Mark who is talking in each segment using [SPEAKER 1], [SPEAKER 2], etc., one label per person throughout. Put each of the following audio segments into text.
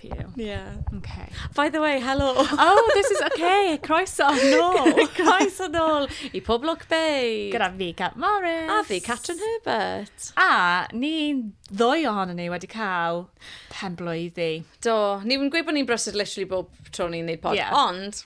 [SPEAKER 1] helpu you. Yeah. Okay. By the way, hello! Oh, this is okay! Croeso nôl! Croeso nôl i Pob Lwc Bay! Gyda fi, Cat Morris. A fi, Catrin Herbert. A ni ddwy ohono ni wedi cael pen blwyddi. Do, ni'n gweud bod ni'n brysur literally bob tro ni'n neud pod, yeah. ond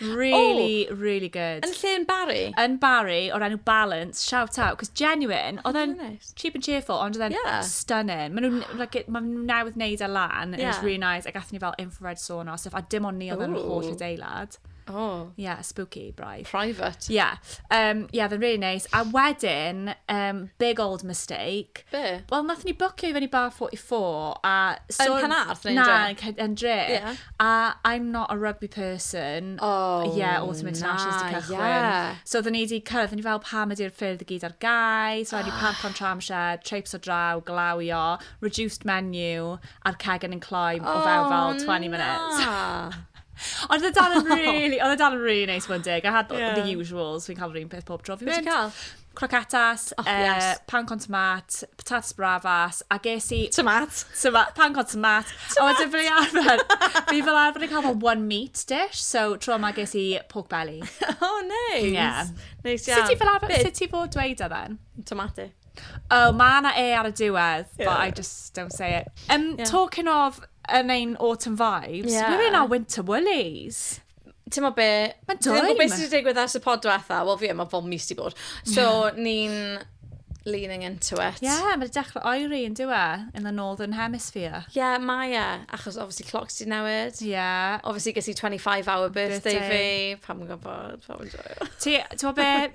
[SPEAKER 1] Really, oh, really good. Yn lle yn Barry? Yn Barry, o'r enw Balance, shout out, cos genuine, oedd e'n nice. cheap and cheerful, ond oedd e'n yeah. stunning. Mae nhw'n like, ma nhw newydd wneud e lan, yeah. it's really nice, a gath ni fel infrared sauna, so a dim ond ni oedd yn holl adeilad. Oh. Yeah, spooky, braidd. Private. Yeah. Um, yeah, fe'n really nice. A wedyn, um, big old mistake. Be? Wel, nath ni bwcio i fyny bar 44 a... So, yn Panarth? Na, yn Dre. Yeah. A I'm not a rugby person. Oh, Ie, yeah, Autumn International's na, di cychwyn. Yeah. So, oedden ni wedi cyrraedd, ni fel pam ydy'r ffyrdd i gyd ar gau. So, oh. ni parc o'n tramshed, traipes o draw, glawio, reduced menu, a'r cegen yn cloi oh, o fewn fel 20 na. minutes. Ond oedd dal yn really, oedd dal yn really nice one day. I had the, yeah. the usuals, fi'n cael yr un peth pob tro fi mynd. Beth cael? croquetas, oh, uh, yes. pan con tomat, patatas bravas, a ges i... Tomat. Tomat, pan con tomat. tomat. A wedyn fel arfer, fi fel arfer yn cael fel one meat dish, so tro yma ges i pork belly. oh, nice. Yeah. Nice iawn. Sut ti fel arfer, sut ti fod dweud o then? Tomate. Oh, mae yna e ar y diwedd, yeah. but I just don't say it. Um, yeah. Talking of yn ein autumn vibes, yeah. we're in our winter woolies. ti'n mo be... Mae dwy. Ti'n mo beth sydd wedi digwydd ers y pod diwetha? Wel fi, mae fel mis di bod. So, ni'n leaning into it. Ie, yeah, mae dechrau oeri yn diwa in the northern hemisphere. Ie, yeah, mae e. Achos, obviously, clocks di newid. Ie. Yeah. Obviously, gysi 25 hour birthday, birthday. fi. Pam yn gwybod, pam yn joio. Ti'n mo be,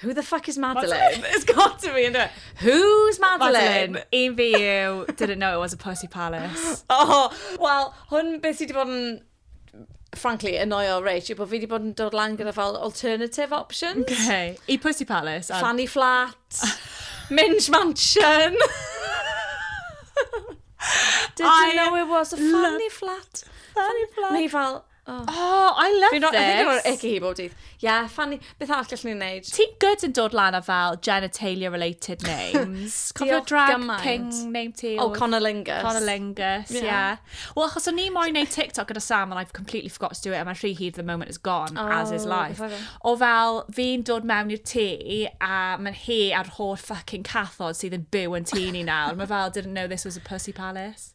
[SPEAKER 1] Who the fuck is Madeline? It's got to be, isn't it? Who's Madeline? Madeline. Un fi yw, didn't know it was a pussy palace. Oh, wel, hwn beth sydd wedi bod yn frankly, annoyo Rach, yw bod fi wedi bod yn dod lan gyda fel alternative options. Okay. I Pussy Palace. And... Fanny Flat. Minge Mansion. Didn't I know it was a Fanny Flat. Fanny Flat. Mae fel, Oh, oh I love this. I think o'r icky hi bob dydd. Yeah, funny. Beth arall gallwn ni'n neud? Ti gyd yn dod lan a fel genitalia related names. Cofio drag gymaint. king name ti? Oh, Conor Lingus. Conor Lingus, yeah. yeah. Wel, achos o'n ni moyn neud TikTok gyda Sam and I've completely forgot to do it and my rhy hir the moment is gone, oh, as is oh, life. O fel, fi'n dod mewn i'r tŷ a mae'n hi a'r holl fucking cathod sydd yn byw yn tŷ ni nawr. Mae fel, didn't know this was a pussy palace.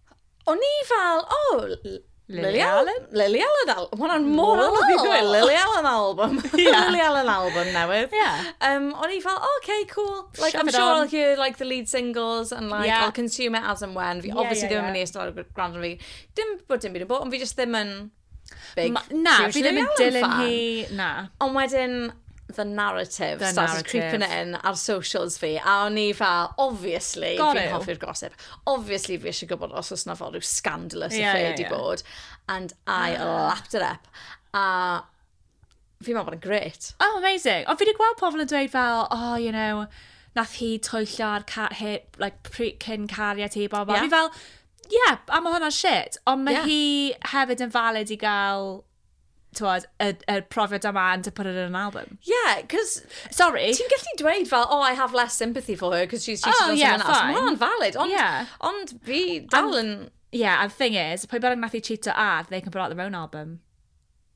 [SPEAKER 1] O'n i fel, o, oh, Lily Allen? Lily Allen album. Mae hwnna'n mor anodd i ddweud. Lily Allen album. yeah. Lily Allen album newydd. Yeah. Um, o'n i fel, oh, okay, cool. Like, Shove I'm sure on. I'll hear like the lead singles and like yeah. I'll consume it as and when. Fi yeah, obviously yeah, ddim yn yeah. mynd i ystod ar gwrando fi. Dim bod dim byd yn bod, ond fi just ddim yn... Big Ma, na, fi ddim yn dilyn hi, na. Ond wedyn, the narrative the started narrative. creeping in ar socials fi, a o'n i fel, obviously, fi'n hoffi'r gossip. Obviously, fi eisiau gwybod os oes na fod rhyw scandalous yeah, affair yeah, di yeah. bod. And I yeah. lapped it up. A fi'n meddwl bod yn gret. Oh, amazing. O, fi wedi gweld pobl yn dweud fel, oh, you know, nath hi twyllio ar ca he, like, cyn cariad hi, bobl. Yeah. Fi fel, Ie, yeah, a mae hwnna'n shit. Ond mae yeah. hi hefyd yn valid i gael tywed, y, y profiad yma and to put it in an album. Yeah, because... Sorry. Ti'n gallu dweud fel, oh, I have less sympathy for her because she's cheated oh, on yeah, someone else. Mae hwnna'n valid, ond, yeah. ond fi dal yn... Yeah, and the thing is, pwy bynnag nath i cheato ar, they can put out their own album.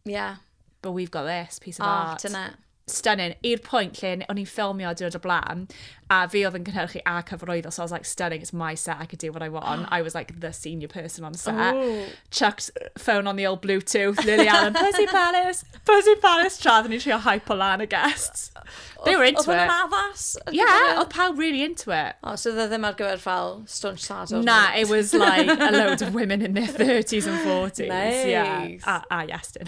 [SPEAKER 1] Yeah. But we've got this piece of oh, art. Oh, dyna. Stunning. I'r pwynt lle n- o'n i'n ffilmio diwrnod o bla'n, a fi oedd yn cynhyrchu a cyfarwyddo, so I was like, stunning, it's my set, I can do what I want. I was like the senior person on set. Ww. Chucked phone on the old Bluetooth, Lily Allen, Pussy Palace, Pussy Palace, tra oedden ni'n trio hypo lan y guests. They were into Oedd hwnna'n it. addas? ar Yeah, gyfer y- oedd pawb really into it. O, so dde ddim ar gyfer fel staunch sadwrn. Na, it was like a load of women in their 30s and 40s. Yeah. Nice. A, a Iestyn.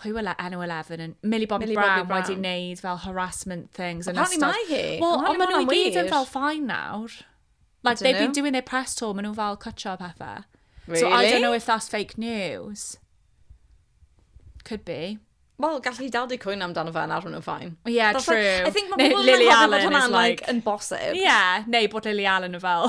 [SPEAKER 1] pwy wela enw 11 yn Millie Bobby, Millie Brown, Bobby Brown wedi wneud fel harassment things yn ystod. Apparently mae hi. Wel, ond maen nhw gyd yn fel fine nawr. Like they've been doing their press tour, maen nhw fel cwtio pethau. Really? So I don't know if that's fake news. Could be. Wel, gallu hi dal di cwyno amdano fe yn arwen nhw'n ffain. Yeah, That's true. Like, I think mae pobl yn meddwl bod hwnna'n like, yn bosib. Yeah, neu bod Lily Allen yn fel...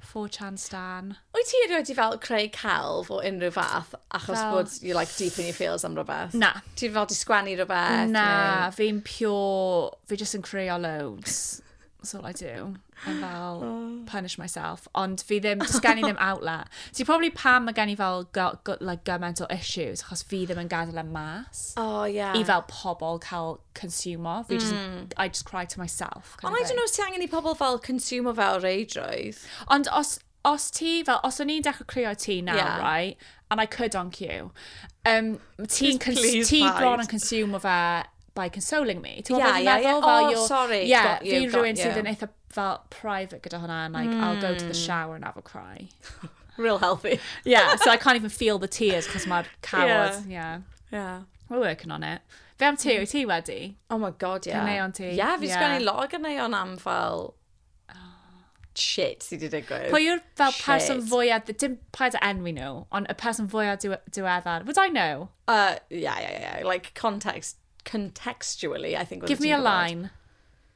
[SPEAKER 1] four chan stan. Wyt ti erioed di fel creu celf o unrhyw fath achos Fel- bod you like deep in your feels am rhywbeth? Na. Ti fel di sgwennu rhywbeth? Na, neu- fi'n pure, fi jyst yn creio loads. That's all I do. I'm fel, punish myself. Ond fi ddim, does gen i ddim outlet. So probably pam mae gen i fel go, go, like, gymaint o issues, achos fi ddim yn gadael am mas. O, ie. I fel pobl cael consumo. Fi jyst yn, I just cry to myself. Ond I don't know os ti angen i pobl fel consumo fe o reidrwydd. Ond os, os ti, fel, os o'n i'n dechrau creu o'r ti nawr, yeah. right, and I could on cue, um, ti'n ti bron yn consumo fe by consoling me. Ti'n yeah, yeah, yeah. Oh, you're, sorry. Yeah, fi rhywun sydd yn eitha fel private gyda hwnna, and like, mm. I'll go to the hmm. shower and have a cry. Real healthy. yeah, so I can't even feel the tears, cos mae'r cawod, yeah. yeah. yeah. We're working on it. Be am ti? Wyt ti wedi? Oh my god, ie. Yeah. Caneuon ti? Ie, yeah, fi yeah. sgwennu lot o ganeuon am fel shit sydd wedi digwydd. Pwy yw'r fel shit. person fwyaf, dim paid o enwi nhw, ond y person fwyaf diweddar. Would I know? Uh, yeah, yeah, yeah. Like context, contextually, I think. Give me a line.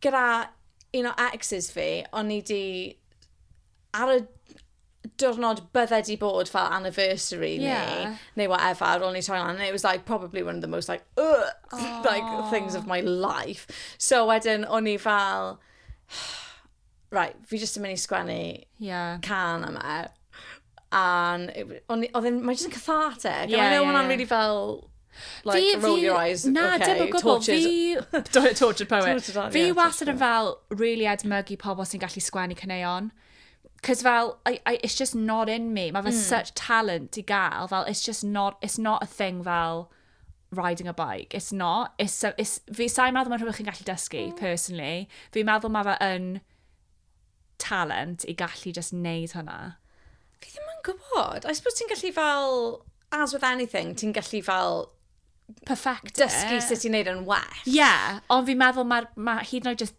[SPEAKER 1] Gyda un o exes fi, o'n i 'di... ar y diwrnod bydde 'di bod fel anniversary ni... Ie. ...neu whatever ar ôl ni torri lan and it was like probably one of the most like ugh... O! ...like things of my life. So wedyn o'n i fel right, fi jyst yn mynd i sgwennu yeah. can yma. A oedd e'n, mae'n jyst yn cathartic. Yeah, yeah, yeah. really fel, like, fi, roll fi, your eyes, na, okay, dim o gwbl, fi... tortured poet. fi yeah, wastad yn fel, really edmygu pobl sy'n gallu sgwennu caneuon. Cos fel, I, I, it's just not in me. Mae fe mm. such talent i gael. Fel, it's just not, it's not a thing fel, riding a bike. It's not. It's, it's, fi sa'n meddwl mae'n rhywbeth chi'n gallu dysgu, mm. personally. Fi'n meddwl mae fe yn talent i gallu just neud hwnna. Fi ddim yn gwybod. I suppose ti'n gallu fel, as with anything, ti'n gallu fel perfect dysgu sut i'n neud yn well. Ie, yeah, ond fi'n meddwl mae ma, hyd yn oed just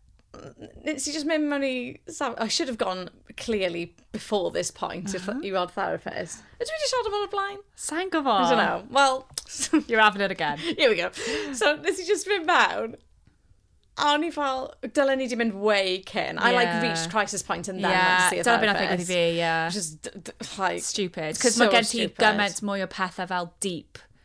[SPEAKER 1] nes i just mynd mewn i... I should have gone clearly before this point uh -huh. i weld therapist. Ydw i wedi siarad o'r blaen? Sa'n gwybod. I don't know. Well... You're having it again. Here we go. So, nes i just mynd mewn. A o'n i fel, dylen ni di mynd way cyn. Yeah. I like reached crisis point and then yeah. went to see a therapist. Yeah, dyna beth i fi, yeah. Just, like... Stupid. Cos so mae gen ti gymaint mwy o pethau fel deep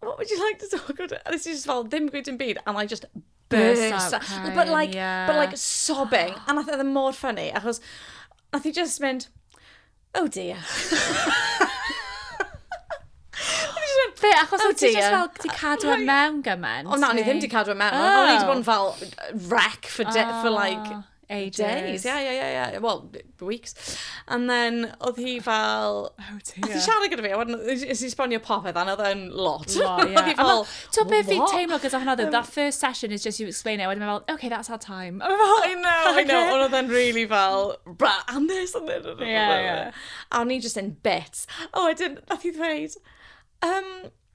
[SPEAKER 1] what would you like to talk about? A nes i just fel, ddim gweud yn byd, and I just burst out. Crying, but like, yeah. but like sobbing. A nath edrych e mor ffynnu, achos nath i just mynd, oh dear. Fe, achos oh, ti just fel, ti cadw ar mewn gymaint. O na, ni ddim di cadw ar mewn. Oh. O'n i wedi bod yn fel wreck for, oh. for like Ages. Days, yeah, yeah, yeah, yeah. Well, weeks. And then, oedd hi fel... Oh dear. Oedd hi siarad gyda fi, a wedyn, is he sbonio popeth, and oedd e'n lot. Lot, yeah. Oedd hi fel, To be fi teimlo gyda hwnna, um, that first session is just you explain it, wedyn fel, okay, that's our time. I know, I know, I know, ond oedd e'n really fel, bra, and this, and this, and this. Yeah, yeah. A o'n i just in bits. A wedyn, nath i ddweud, um,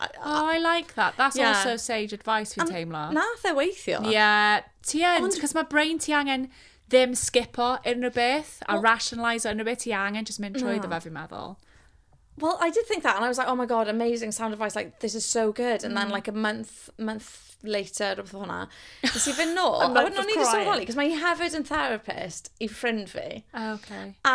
[SPEAKER 1] Oh, I like that. That's yeah. also sage advice fi'n teimlo. Nath e weithio. Yeah, ti yn, Ond... cos mae brain ti angen ddim skipo unrhyw beth a well, rationalise unrhyw beth ti angen just mynd trwy no. dda fi'n meddwl. Well, I did think that, and I was like, oh my god, amazing sound advice, like, this is so good. And mm. then, like, a month, month later, rhywbeth o hwnna, nes i fynd nôl, a wedyn o'n i ddim yn sylweddoli, cos mae hi hefyd yn therapist i ffrind fi. Oh, okay. A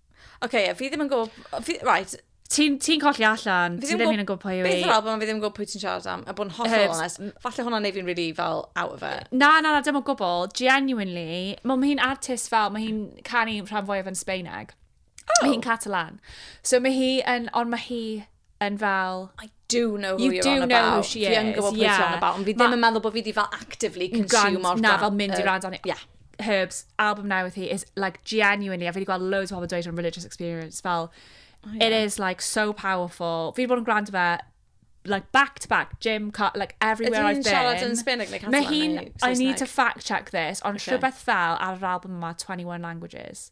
[SPEAKER 1] Oce, okay, fi ddim yn gwybod... Right. Ti'n ti colli allan, ti ddim yn gwybod pwy yw i. Beth yw'r album, fi ddim yn gwybod pwy ti'n siarad am, a bod yn hollol honest. Falle hwnna'n neud fi'n really fel out of it. Na, na, na, dim o gwbl. Genuinely, mae hi'n artist fel, mae hi'n canu rhan fwyaf yn Sbeineg. Oh. Mae hi'n Catalan. So mae hi yn, ond mae hi yn fel... I do know who you you're on about. You do know who she is, ie. Fi yn gwybod pwy ti'n on about, ond fi ddim yn meddwl bod fi wedi fel actively consume o'r... Na, fel mynd i rand o'n i. Yeah. Herbs, album newydd hi is like genuinely, a fi wedi gweld loads o pobl dweud yn religious experience, fel, oh, yeah. it is like so powerful. Fi wedi bod yn gwrando fe like back to back, gym, car, like everywhere I've been. siarad yn Spanish? Like, Mae hi'n, I need to fact check this, ond rhywbeth fel ar yr album yma, 21 languages.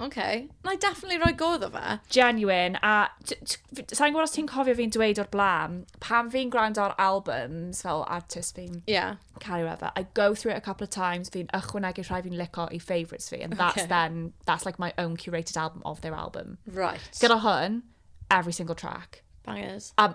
[SPEAKER 1] OK. Na i definitely rhoi go iddo fe. Genuine, a t- t- f- sa'n gwybod os ti'n cofio fi'n dweud o'r blaen, pan fi'n gwrando ar albums fel artist fi'n Ie. caru whatever, I go through it a couple of times, fi'n ychwanegu rhai fi'n lico i favourites fi, and that's Ocê. then, that's like my own curated album of their album. Right. Gyda hwn, every single track. Bangers. A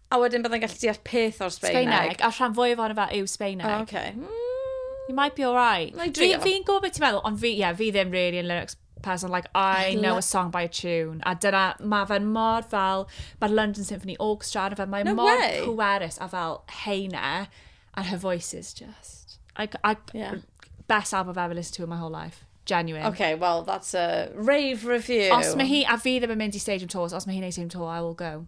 [SPEAKER 1] A wedyn byddai'n gallu deall peth o'r Sbeineg. Sbeineg, a'r rhan fwyaf ohono fe yw Sbeineg. O, okay. Mm. You might be alright. Fi'n fi, fi gwybod beth ti'n meddwl, ond fi, yeah, fi ddim really yn lyrics person, like, I know a song by a tune. A dyna, mae fe'n mor fel, mae'r London Symphony Orchestra, a fe, mae no mor way. pwerus a fel heine, and her voice is just... I, I, yeah. Best album I've ever listened to in my whole life. Genuine. Okay, well, that's a rave review. Os mae hi, a fi ddim yn mynd i stadium tours, os mae hi'n ei stadium tour, I will go.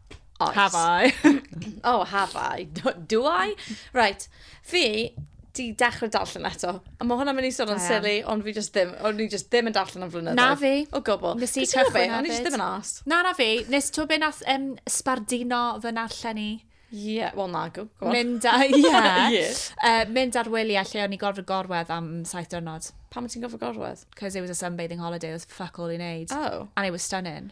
[SPEAKER 1] Oes. Have I? oh, have I? Do, do I? Right. Fi, di dechrau darllen eto. A mae hwnna'n mynd i sôn yn silly, ond fi just ddim, o'n i just ddim yn darllen am flynyddoedd. Na fi. O gwbl. Nes i cychwyn O'n i just ddim yn as. Na, na fi. Nes to be nath um, sbardino fy narllen i. Ie, yeah, wel na, go, go on. Mynd, a, yeah. yeah. uh, mynd ar wyliau lle o'n i gorfod gorwedd am saith dyrnod. Pam ti'n gorfod gorwedd? Because it was a sunbathing holiday, it was fuck all i wneud. Oh. And it was stunning.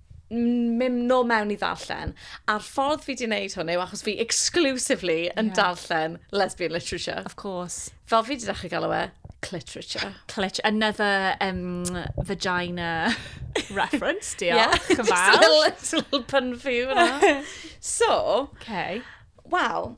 [SPEAKER 1] mynd nôl mewn i ddarllen. A'r ffordd fi di wneud hwn yw achos fi exclusively yn yeah. darllen lesbian literature. Of course. Fel fi di ddechrau galw e, cliterature. Cliterature. Another um, vagina reference, diolch. Yeah, just a little, little pun for you. so, okay. Wel,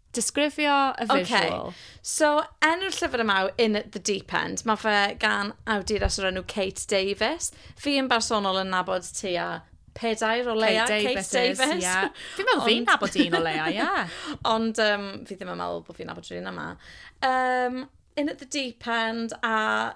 [SPEAKER 1] Disgrifio y visual. Okay. So, enw'r llyfr yma yw In the Deep End. Mae fe gan awduras o'r enw Kate Davis. Fi yn bersonol yn nabod ti a pedair o leia Kate Davis. Kate Davis. Yeah. Fi'n meddwl fi'n nabod un o leia, ie. Yeah. Ond um, fi ddim yn meddwl bod fi'n nabod rhywun yma. Um, in at the deep end a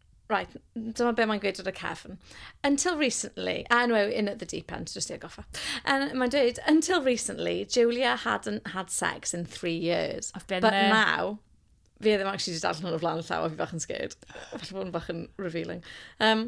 [SPEAKER 1] Right, dyma be mae'n gweud ar y cefn. Until recently, ah no, in at the deep end, just i agoffa. Um, mae'n dweud, until recently, Julia hadn't had sex in three years. I've been but there. now, fi e ddim actually wedi darllen hwn o flaen y llaw a fi bach yn scared. Felly bod yn bach yn revealing. Um,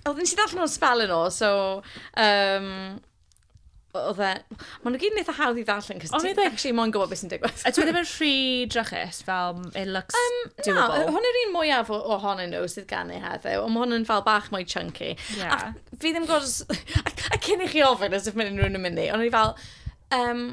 [SPEAKER 1] Oedd, nes i ddarllen o'n spel yn ôl, so... Um, oedd e... Maen nhw gyd yn eitha hawdd i ddarllen, cos ti'n actually moyn gwybod beth sy'n digwydd. A dwi ddim yn rhy drachus, fel, it looks um, doable. Na, hwn yw'r un mwyaf ohonyn nhw sydd gan ei heddiw, ond mae hwn yn fel bach mwy chunky. Yeah. A fi ddim gwrs... A, a cyn i chi ofyn, as if mae unrhyw'n yn mynd i, ond i fel... Um,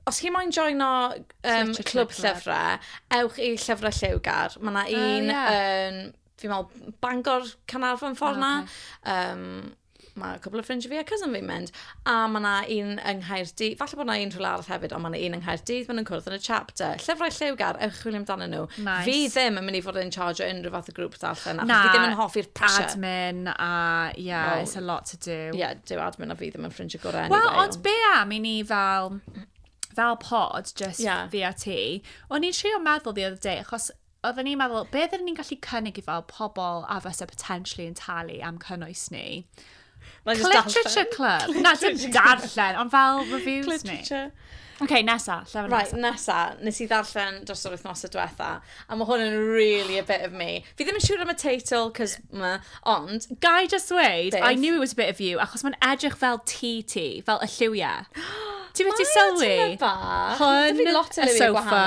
[SPEAKER 1] os chi moyn joino um, clwb llyfrau, ewch i Llyfrau Lliwgar. Mae yna un... Uh, yeah. um, fi'n meddwl, Bangor, Canarfon, ffordd na. Okay. Um, mae cwbl o ffrinds fi a cousin fi'n mynd. A mae yna un yng Nghaerdydd, falle bod yna un rhywle arall hefyd, ond mae yna un yng Nghaerdydd, maen nhw'n cwrdd yn y chapter. Llyfrau lliwgar, ewch chwilio amdano nhw. Nice. Fi ddim yn mynd i fod yn charge o unrhyw fath o grŵp darllen, achos fi ddim yn hoffi'r pressure. admin a, yeah, well, it's a lot to do. Ie, yeah, dyw admin a fi ddim yn ffrinds y gorau. Wel, anyway, ond be am i ni fel fel pod, just yeah. fi a ti, o'n i'n trio meddwl the other day, achos oedden ni'n meddwl, beth ydyn ni'n gallu cynnig i fel pobl a fysa potentially yn talu am cynnwys ni? Mae'n just darllen. Literature club. Na, dim darllen, ond fel reviews ni. Literature. Oce, okay, nesa, lle fe Right, nesa, nes i ddarllen dros yr wythnos y diwetha, a mae hwn yn really a bit of me. Fi ddim yn siŵr am y teitl, cos ma, Ond, gai just ddweud, I knew it was a bit of you, achos mae'n edrych fel ti ti, fel y lliwia. Ti beth i sylwi? Hwn, y sofa,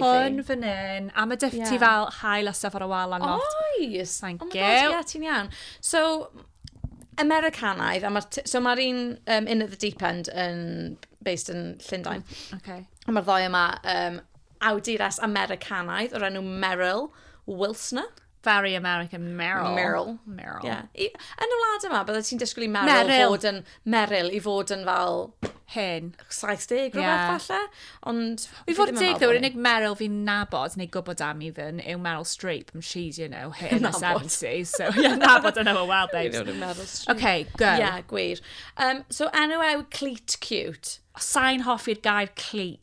[SPEAKER 1] hwn fan hyn, a mae dyff ti fel hael a stuff ar y wal a not. Oes! Thank you. Oh my god, ie, ti'n iawn. So, Americanaidd, a mae'r... So mae'r un um, In at the Deep End yn based yn Llundain. Mm, okay. A mae'r ddoi yma um, awdures Americanaidd o'r enw Meryl Wilsner. Very American, Meryl. Meryl. Meryl. Yeah. I, yn y wlad yma, bydde ti'n disgwyl i Meryl, Meryl. fod yn... Meryl i fod yn fel... Hen. 70 rhywbeth yeah. falle. Ond... I fod yn deg, yw'r unig Meryl fi'n nabod neu gwybod am i ddyn yw Meryl Streep. And she's, you know, hit in the 70s. So, yeah, nabod yna fo, well, babes. You know, Meryl Streep. Okay, go. Yeah, gwir. Um, so, enw ew Cleat Cute. Sain hoffi'r gair cleat.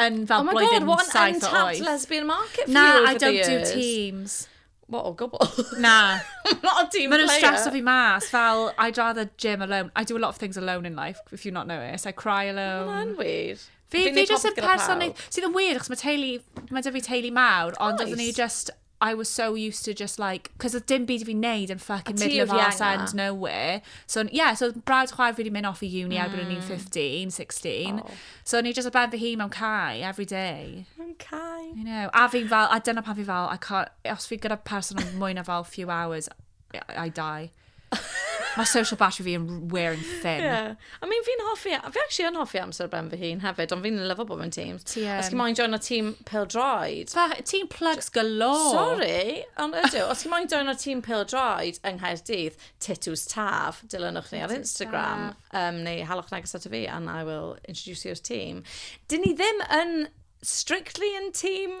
[SPEAKER 1] yn fel oh my blwyddyn God, what an untapped lesbian market for Na, you over I don't do teams. What, o gwbl? Na. I'm not a team Mae'n player. Mae'n o fi mas, fel, I'd rather gym alone. I do a lot of things alone in life, if you not know it. I cry alone. Mae'n wir. Fi, fi just y person sydd yn wir, achos mae teulu, mae dy fi teulu mawr, ond oeddwn ni just I was so used to just like, cos oedd dim byd i fi wneud yn fucking A ti middle of oedd arse Vienna. end nowhere. So, n- yeah, so oedd brawd chwaer fi wedi mynd off i uni mm. erbyn o'n i'n 15, 16. Oh. So, o'n i just o ben fy hun mewn cae every day. Mae'n cael. You know, a fi'n fel, a dyna pan fi fel, I can't, os fi gyda person am mwy na fel few hours, I die. Mae social battery fi yn wearing thin. Yeah. I mean, fi'n hoffi, fi actually yn hoffi amser ben fy hun hefyd, ond fi'n lyfo bod mewn tîm. Ti yn. Os chi moyn join o tîm Pil Droed. Pa, ti'n plugs galore. Sorry, ond ydw. Os chi moyn join o tîm Pil Droed yng Nghaerdydd, Titws Taf, dilynwch ni ar Titws Instagram, um, neu halwch neges ato fi, and I will introduce you i'r tîm. Dyn ni ddim yn strictly yn tîm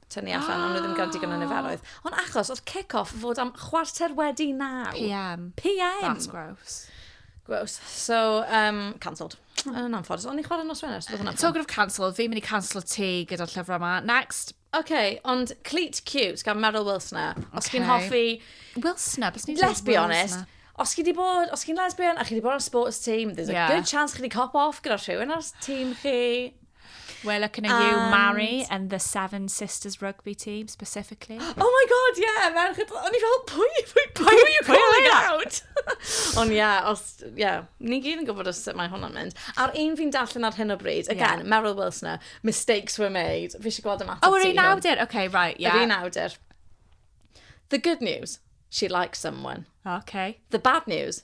[SPEAKER 1] tynnu allan, ond nhw ddim gael digon o niferoedd. Ond achos, oedd kick-off fod am chwarter wedi naw. PM. PM! That's gross. Gross. So, um, cancelled. Hmm. Yn anffodus. O'n i'n chwarae nos Wener, so hwnna'n Talking of cancelled, fi'n mynd i cancel ti gyda'r llyfrau yma. Next. OK, ond Cleat Cute gan Meryl Wilsona. Os okay. chi'n hoffi... Wilsona? Let's be honest. Wilsona os chi wedi bod, os chi'n lesbian a chi wedi bod ar sports team, there's a yeah. good chance chi wedi cop off gyda rhywun ar team chi. We're looking at you, Mari, and the Seven Sisters rugby team specifically. Oh my god, yeah, merched. O'n i fel, pwy, pwy, pwy are you calling out? Ond ie, yeah, os, ie, yeah, ni gyd yn gwybod os sut mae hwnna'n mynd. A'r un fi'n darllen ar hyn o bryd, again, yeah. Meryl Wilsoner, mistakes were made. Fi eisiau gweld ymateb oh, ti. Oh, yr un awdur, okay, right, yeah. Yr un awdur. The good news, she likes someone. Okay. The bad news,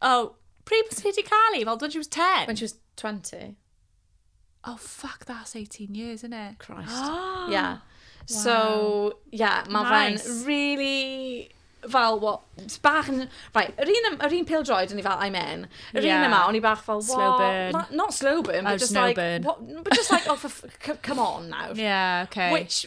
[SPEAKER 1] Oh, pryd bys ti di cael i? Fel, when she was 10? When she was 20. Oh, fuck, that's 18 years, isn't it? Christ. Oh, yeah. So, yeah, mae nice. fe'n really fel, what, bach yn... Right, yr un, yr un pil droed, o'n i fel, I'm in. Yr yeah. un yma, o'n i bach fel, what? Slow burn. Not, not slow burn, but oh, just like, burn. What, but just like, oh, for, come on now. Yeah, okay. Which,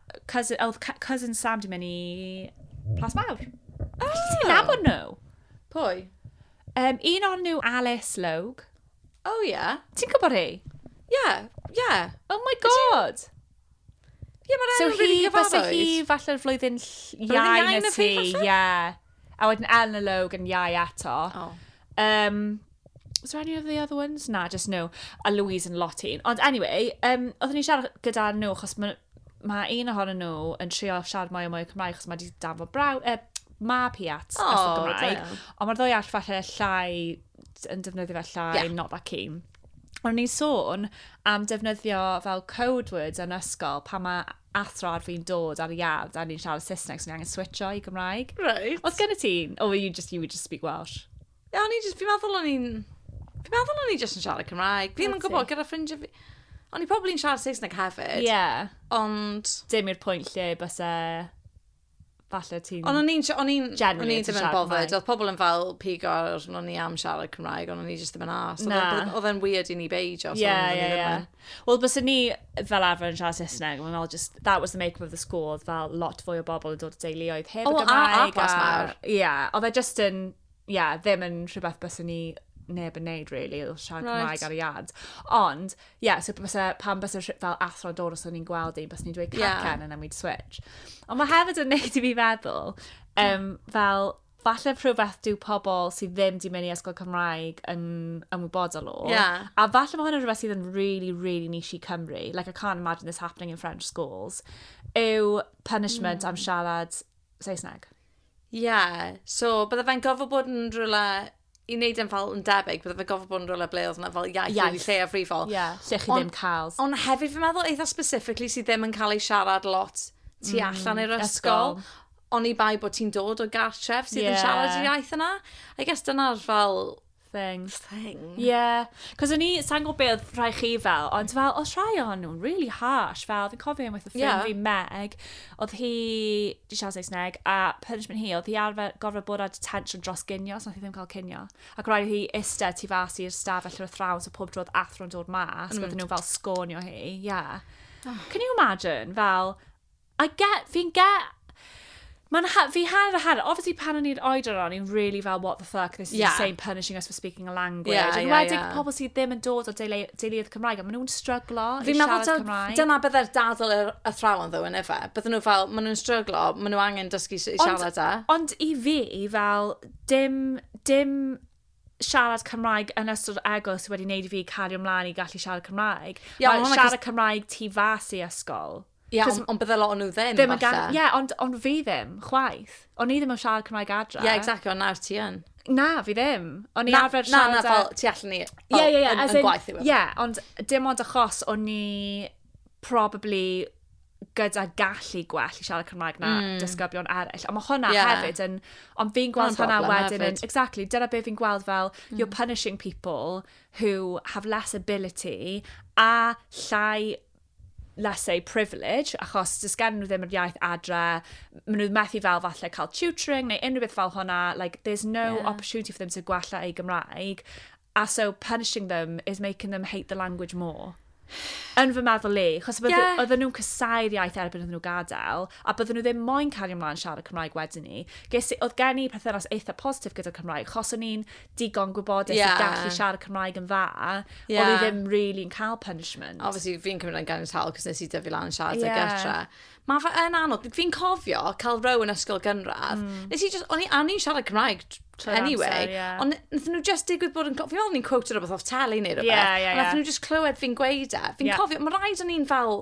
[SPEAKER 1] Cousin, oedd cousin Sam di mynd i Plas Mawr. Oh! Allet ti nabod nhw? Pwy? Um, un o'n nhw Alice Logue. Oh, ie. Yeah. Ti'n gwybod hi? Ie, yeah, ie. Yeah. Oh my god! Ie, yeah, mae'n so really gyfarwydd. So hi, falle flwyddyn iau na ti, ie. A wedyn Eleanor Logue yn iau eto. O. Um, was there any of the other ones? Na, just nhw. A Louise yn lot un. Ond anyway, um, oeddwn i'n siarad gyda nhw, chos mae ma un ohonyn nhw yn trio siarad mwy o mwy o Cymraeg, chos mae wedi danfod braw... Uh, mab hi at oh, ysgrifennu Cymraeg. Ond mae'r ddwy all falle llai, yn defnyddio fe llai, yeah. not that keen. Ond ni'n sôn am defnyddio fel code words yn ysgol pan mae athro ar fi'n dod ar y iard a ni'n siarad Saesneg, so ni angen switcho i Gymraeg. Reit. Oedd gen i ti? Oh, you just, you would just speak Welsh. Ie, o'n i just, fi'n meddwl o'n i'n... Fi'n meddwl o'n i just yn siarad Cymraeg. Fi'n yn gwybod gyda ffrindiau fi... O'n i probably yn siarad Saesneg hefyd. Ie. Ond... Dim i'r pwynt lle byse... falle ti'n... Ond o'n i'n... O'n i'n... O'n i ddim yn bothered. Oedd pobl yn fel pigo ar o'n i am siarad Cymraeg, ond o'n i jyst ddim yn as. Na. Oedd e'n weird i ni beidio. Ie, ie, ie. Wel, bys ni fel arfer yn siarad Saesneg, mae'n fel just, that was the make of the school, oedd fel lot fwy o bobl yn dod o deuluoedd heb y Gymraeg. O, a, a plas mawr. Ie, oedd e just yn... ie, ddim yn rhywbeth bys ni neb yn neud, really, oedd siarad right. Cymraeg ar y iard. Ond, ie, yeah, so bysa, pan bysa fel athro dod os o'n i'n gweld un, bys ni'n dweud cacen yeah. and then we'd switch. Ond mae hefyd yn neud i fi feddwl, um, fel, falle rhywbeth dyw pobl sydd ddim di mynd i ysgol Cymraeg yn ymwybodol o. Yeah. A falle mae hwnna'n rhywbeth sydd yn really, really niche i Cymru. Like, I can't imagine this happening in French schools. Yw punishment mm. am siarad Saesneg. Ie, so bydde fe'n gofod bod yn rhywle i wneud e'n fel yn debyg, bydde fe'n gofod bod yn rhywle ble oedd yna fel iaith, iaith. lle a frifol. Ie, yeah, lle chi on, ddim cael. Ond hefyd fi'n meddwl eitha specifically sydd ddim yn cael ei siarad lot tu mm, allan i'r ysgol. ysgol oni bai bod ti'n dod o gartref sydd yeah. yn siarad y iaith yna. I guess dyna'r fel thing. Thing. Yeah. Cos o'n i, sa'n gwybod beth oedd rhai chi fel, ond fel, os rhai o'n nhw'n really harsh, fel, fi'n cofio un with a ffrind yeah. fi Meg, oedd hi, di siarad Saesneg, a punishment hi, oedd hi arfer gorfod bod ar detention dros gynio, so oedd hi ddim cael cynio. Ac rhaid hi eistedd tu fas i'r staf allan o thrawn, so pob trodd athro'n dod mas, mm. oedden nhw fel sgonio hi, yeah. Oh. Can you imagine, fel, I get, fi'n get. Mae'n ha- fi hanner a hanner. Obviously, pan o'n i'r oedran o'n i'n really fel, what the fuck, this is yeah. insane, punishing us for speaking a language. Yeah, Yn yeah, wedig yeah. pobl sydd ddim yn dod o deulu- deuluoedd Cymraeg, a maen nhw'n stryglo i Fi'n meddwl siarad dyl- Cymraeg. dyna byddai'r dadl yr athrawon ddo yn efe. Bydden nhw fel, maen nhw'n stryglo, maen nhw angen dysgu s- i Ond- siarad e. Ond i fi, fel, dim, dim siarad Cymraeg yn ystod egwyl sydd wedi wneud i fi cario ymlaen i gallu siarad Cymraeg. Iawn, Mae hwnna siarad Cymraeg tu fas i ysgol. Ie, Cos- ond, ond bydde lot o'n nhw ddim, Ddim yn gan... falle. Ie, ond, ond fi ddim, chwaith. O'n i ddim yn siarad Cymraeg adre. Ie, exactly, ond nawr ti yn. Na, fi ddim. O'n i Na, arfer na, na, siarad... fel tu allan i... Ie, ie, ie. Yn, as yn in- gwaith i wefan. Ie, ond dim ond achos o'n i probably gyda gallu gwell i siarad Cymraeg na Mm. disgyblion eraill. Ond mae hwnna Ie. hefyd yn... Ond fi'n gweld Hwnna'n hwnna broblem wedyn yn... hefyd. Mm. Exactly, dyna beth fi'n gweld fel you're punishing people who have less ability a llai less a privilege, achos does gen nhw ddim yr iaith adre, maen nhw methu fel falle cael tutoring neu unrhyw beth fel hwnna, like there's no yeah. opportunity for them to gwella ei Gymraeg, a so punishing them is making them hate the language more. Yn fy meddwl le, chos yeah. oedden nhw'n cysau'r iaith erbyn oedden nhw gadael, a bydden nhw ddim moyn cario ymlaen siarad Cymraeg wedyn ni. Ges, oedd gen i perthynas eitha positif gyda'r Cymraeg, chos o'n i'n digon gwybodus yeah. i gallu siarad Cymraeg yn dda, yeah. oedd i ddim really yn cael punishment. Obviously, fi'n cymryd yn gan tal, cos nes i dyfu lan yn siarad yeah. ag etra. Mae fe yn anodd. Fi'n cofio cael row yn ysgol gynradd. Mm. Nes i just, o'n i'n siarad Cymraeg anyway. Amser, yeah. Ond nath nhw just digwydd bod yn... Fi'n meddwl ni'n quoted rhywbeth off teli neu rhywbeth. Yeah, yeah, yeah. Ond nath nhw just clywed fi'n gweud e. Fi'n yeah. cofio, mae rhaid o'n i'n fel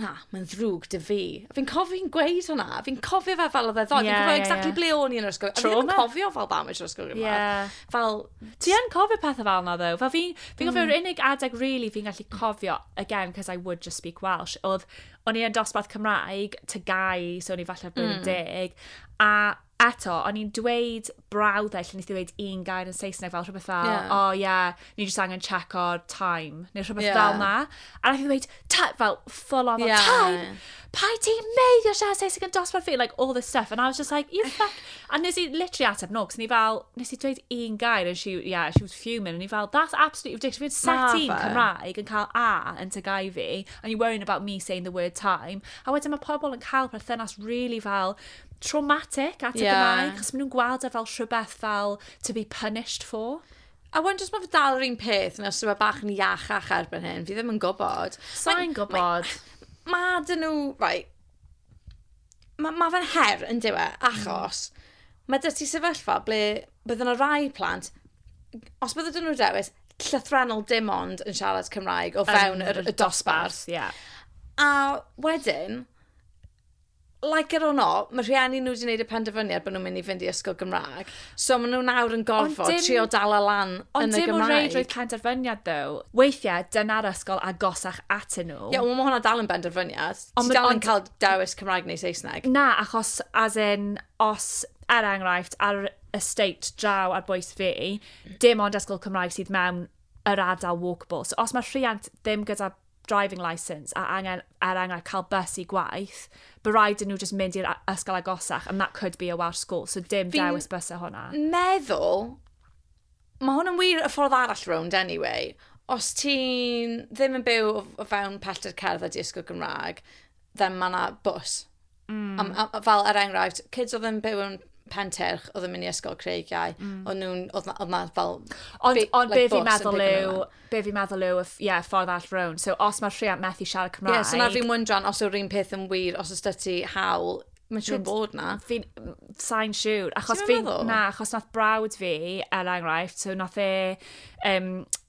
[SPEAKER 1] na, mae'n ddrwg dy fi. A fi'n cofio hi'n gweud hwnna. Fi'n cofio fe fel oedd e ddoed. Yeah, fi'n cofio yeah, exactly yeah. ble o'n i yn yr ysgol. Trauma. A fi'n cofio fel bam i'r ysgol gymraeg. Yeah. Fel... Ti yn cofio pethau fel yna, ddo? Fel fi'n fi mm. yr unig adeg really fi'n gallu cofio, again, because I would just speak Welsh, oedd o'n i'n dosbarth Cymraeg, tygau, so o'n i falle bod mm. deg, a eto, o'n i'n dweud brawddau lle nes i dweud un gair yn Saesneg fel rhywbeth fel, yeah. oh yeah, ni jyst angen check o'r time, neu rhywbeth yeah. fel na. A nath i dweud, fel full on yeah. time, pa i ti mei o siarad Saesneg yn dosbarth fi, like all this stuff. And I was just like, you fuck. A nes i literally ateb no, cos ni fel, nes i dweud un gair, and she, yeah, she was fuming, and ni fel, that's absolutely ridiculous. Fi'n set i'n Cymraeg yn cael A yn tygau fi, and you're worrying about me saying the word time. A wedyn mae pobl yn cael perthynas really fel, traumatic at y Gymraeg, achos maen nhw'n gweld e fel rhywbeth fel to be punished for. A wan jyst mae fe dal yr un peth, neu os yw e bach yn iachach erbyn hyn, fi ddim yn gwybod. Sa'n gwybod. Mae ma dyn nhw, right, mae ma fe'n her yn diwe, mm. achos mae dys ti sefyllfa ble bydd yna rai plant, os bydd ydyn nhw dewis, llythrenol dim ond yn siarad Cymraeg o fewn um, y, y dosbarth. Yeah. A wedyn, like it or not, mae rhieni nhw wedi gwneud y penderfyniad bod nhw'n mynd i fynd i ysgol Gymraeg. So maen nhw nawr yn gorfod dim, trio dal a lan yn y Gymraeg. Ond dim o reid roedd penderfyniad ddo. Weithiau, dyna'r ysgol agosach atyn nhw. Ie, yeah, ond mae hwnna dal yn benderfyniad. Ond Ti dal yn cael dewis Cymraeg neu Saesneg. Na, achos, as in, os, er enghraifft, ar estate draw ar bwys fi, dim ond ysgol Cymraeg sydd mewn yr ardal walkable. So os mae rhiant ddim gyda driving licence a angen, er enghraifft, cael bus i gwaith, by rhaid yn nhw just mynd i'r ysgol agosach, and that could be a Welsh school, so dim Fi'n dewis bus o hwnna. meddwl, mae hwn yn wir y ffordd arall rownd anyway, os ti'n ddim yn byw o fewn pellter cerdd a di ysgol Gymraeg, then mae yna bws Mm. Am, am, fel er enghraifft, kids oedd yn byw yn Penterch oedd yn mynd i ysgol Creigiau, mm. o'n nhw'n, oedd yma fel... Ond, on, like, be fi'n meddwl yw, be fi'n meddwl yw, yeah, ffordd all rown. So, os mae'r rhiant methu siarad Cymraeg... Yeah, so na fi'n wyndran os yw'r un peth yn wir, os ys ti hawl, mae'n siŵr bod na. Fi'n, sain siŵr, achos fi'n, na, achos nath brawd fi, er enghraifft, so nath e, um,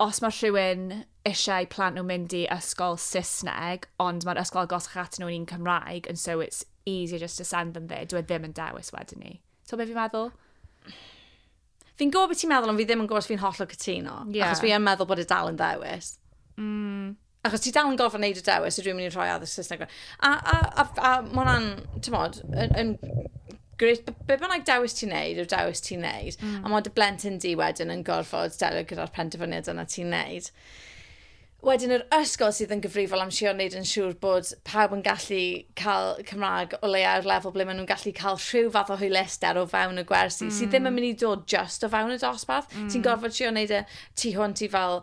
[SPEAKER 1] os mae rhywun eisiau i plant nhw mynd i ysgol Saesneg, ond mae'r ysgol agosach atyn nhw yn un Cymraeg, and so it's easier just to send them there, dwi e ddim yn dewis wedyn ni. So beth fi'n meddwl? Fi'n gwybod beth ti'n meddwl, ond fi ddim yn gwybod os fi'n hollol cytuno. Yeah. Achos fi yn meddwl bod e dal yn ddewis. Mm. Achos ti dal yn gorfod wneud y dewis, ydw i'n mynd i rhoi addysg Saesneg fe. A, a, a, a mae hwnna'n, ti'n modd, yn, yn gret, be bynnag dewis ti'n neud, yw'r dewis ti'n neud. Mm. A mae dy blentyn di wedyn yn gorfod delio gyda'r penderfyniad yna ti'n neud. Wedyn yr ysgol sydd yn gyfrifol am sio wneud yn siŵr bod pawb yn gallu cael Cymraeg o leiau'r lefel ble maen nhw'n gallu cael rhyw fath o hwylister o fewn y gwersi, mm. sydd ddim yn mm. mynd i dod just o fewn y dosbarth. Mm. Ti'n gorfod sio wneud y e tu hwnt i fel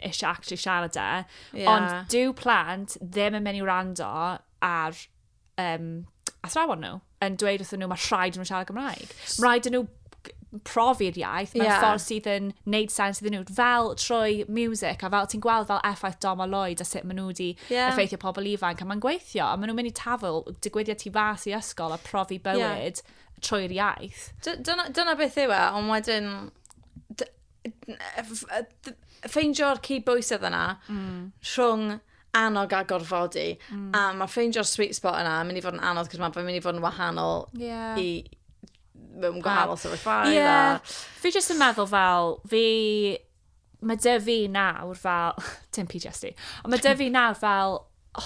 [SPEAKER 1] eisiau actually siarad e. Yeah. Ond dyw plant ddim yn mynd i wrando ar um, athrawon nhw yn dweud wrthyn nhw mae rhaid nhw siarad Gymraeg. Mae rhaid nhw profi'r iaith mewn yeah. ffordd sydd yn neud sens iddyn nhw, fel trwy music, a fel ti'n gweld fel effaith Dom a Lloyd a sut maen nhw wedi yeah. effeithio pobl ifanc, a mae'n gweithio, a maen nhw'n mynd i tafel digwyddiad tu fas i ysgol a profi bywyd yeah. trwy'r iaith. Dyna, dyna beth yw e, ond wedyn, ffeindio'r cyd bwysedd yna mm. rhwng annog a gorfodi. Mm. A mae ffeindio'r sweet spot yna yn mynd i fod yn anodd, cos mae'n mynd i fod yn wahanol yeah. i mewn gwahanol sefyllfaoedd. Ie. Yeah. A... Fi jyst yn meddwl fel, fi... Mae dy fi nawr fel... Dim PTSD. Ond mae dy fi nawr fel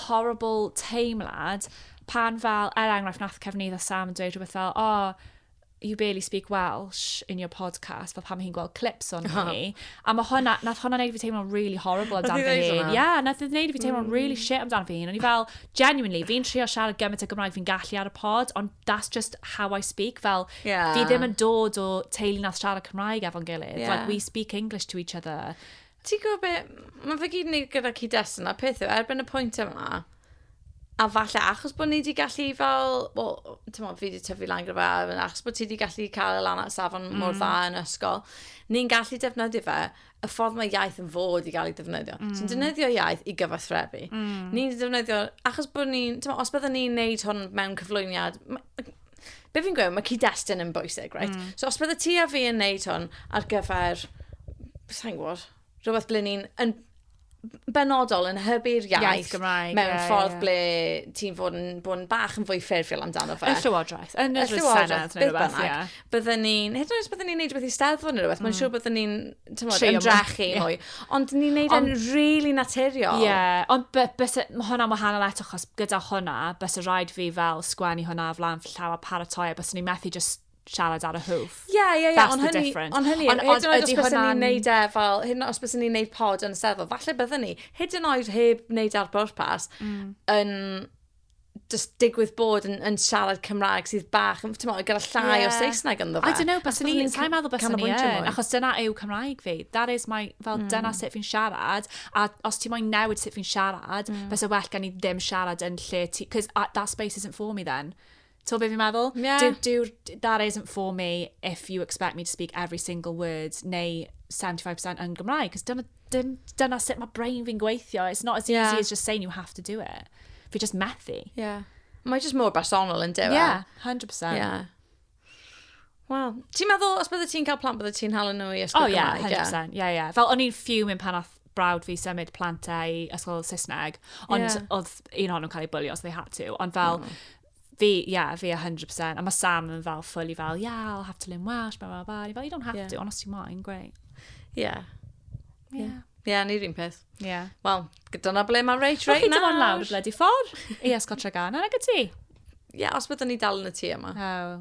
[SPEAKER 1] horrible teimlad pan fel, er enghraifft, nath Cefnydd a Sam yn dweud rhywbeth fel, o, oh, you barely speak Welsh in your podcast, fel pam hi'n gweld clips o'n ni. A mae hwnna, nath hwnna neud fi teimlo'n really horrible amdano fi hyn. Ie, yeah, nath hwnna neud fi teimlo'n mm. really shit amdano fi hyn. O'n i fel, genuinely, fi'n trio siarad gymaint o Gymraeg fi'n gallu ar y pod, ond that's just how I speak. Fel, yeah. fi ddim yn dod o teulu nath siarad Cymraeg efo'n gilydd. Yeah. Like, we speak English to each other. Ti'n gwybod be? Mae fe gyd yn wneud gyda cyd-destun a pethau erbyn y pwynt yma. A falle achos bod ni wedi gallu fel... Wel, ti'n fi wedi tyfu lan gyda fe, achos bod ti wedi gallu cael y lan at safon mm. mor dda yn ysgol, ni'n gallu defnyddio fe y ffordd mae iaith yn fod i gael ei defnyddio. Mm. Ti'n defnyddio iaith i gyfathrebu. Mm. Ni'n defnyddio... Achos bod ni'n... Os byddwn ni'n neud hwn mewn cyflwyniad... be fi'n gweud, mae cyd-destun yn bwysig, right? Mm. So os bydde ti a fi yn neud hwn ar gyfer, sa'n gwybod, rhywbeth ble ni'n yn benodol yn hybu'r iaith, iaith Gymraeg, mewn yeah, ffordd yeah. ble ti'n fod yn, bod yn bach yn fwy ffurfiol amdano fe. Y llywodraeth, yn y llywodraeth, neu rhywbeth, ie. Byddwn ni'n, hyd yn oes byddwn ni'n neud rhywbeth i steddfod neu rhywbeth, mm. mae'n siŵr byddwn ni'n tymod, ymdrechu yeah. mwy. Ond ni'n neud e'n rili really naturiol. Ie, yeah. ond bys, mae hwnna'n wahanol eto, chos gyda hwnna, bys y rhaid fi fel sgwennu hwnna o flan llaw a paratoi, a bys ni'n methu just siarad ar y hwf. Ie, ie, ie. Ond hynny, ond hynny, hyd yn oed os bys ni'n neud e fel, hyd yn oed os bys ni'n neud pod yn y sefyl, falle byddwn ni, hyd yn oed heb wneud ar bwrpas, mm. yn just digwydd bod yn, yn siarad Cymraeg sydd bach, ti'n meddwl, gyda llai yeah. o Saesneg ynddo fe. I don't know, bys ni, sa'n meddwl bys ni yn, achos dyna yw Cymraeg fi. That is my, fel mm. dyna sut fi'n siarad, a os ti'n moyn newid sut fi'n siarad, mm. bys y well gan i ddim siarad yn lle ti, because uh, that space isn't for me then. To be fi'n meddwl? Yeah. Do, do, that isn't for me if you expect me to speak every single word, neu 75% yn Gymraeg, cos dyna, dim, dyna sut mae brain fi'n gweithio. It's not as easy yeah. as just saying you have to do it. Fi just methu. Yeah. Mae just mor bersonol yn dewa. Yeah, 100%. Yeah. Wel, ti'n meddwl, os bydde ti'n cael plant, bydde ti'n hal nhw i ysgol oh, yeah, Cymraeg? O, ie, 100%. Ie, ie. Fel, o'n i'n fuming pan oedd brawd fi symud plantau ysgol Saesneg, ond yeah. oedd un o'n nhw'n cael ei bwlio os they had to. Ond fel, mm. Fi, yeah, fi 100%. A mae Sam yn fel fully fel, yeah, I'll have to learn Welsh, blah, blah, blah. Fel, you don't have yeah. to, ond os ti'n moyn, great. Yeah. Yeah. yeah. yeah, ni'r un peth. Yeah. Wel, dyna ble mae Rach right nawr. Rwy'n lawr y bledi ffordd i Esgotra Gan, yna gyda ti? Ie, yeah, os byddwn ni dal yn y tŷ yma. Oh.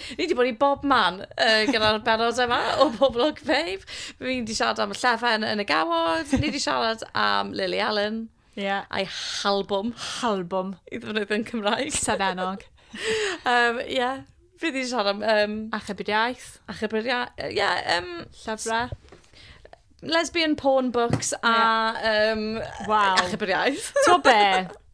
[SPEAKER 1] Ni wedi bod i bob man uh, gyda'r benod yma o Pobl Ogfeydd. Feib. Fi wedi siarad am y llefen yn y gawod. Ni wedi siarad am Lily Allen. Yeah. A'i halbwm. Halbwm. I ddefnyddio yn Cymraeg. Senenog. um, yeah. Fi wedi siarad am... Um, Achub yr iaith. Achub yr iaith. Uh, yeah, um, Llyfrau. Lesbian porn books a... Yeah. Um, wow. Achub yr iaith. To be?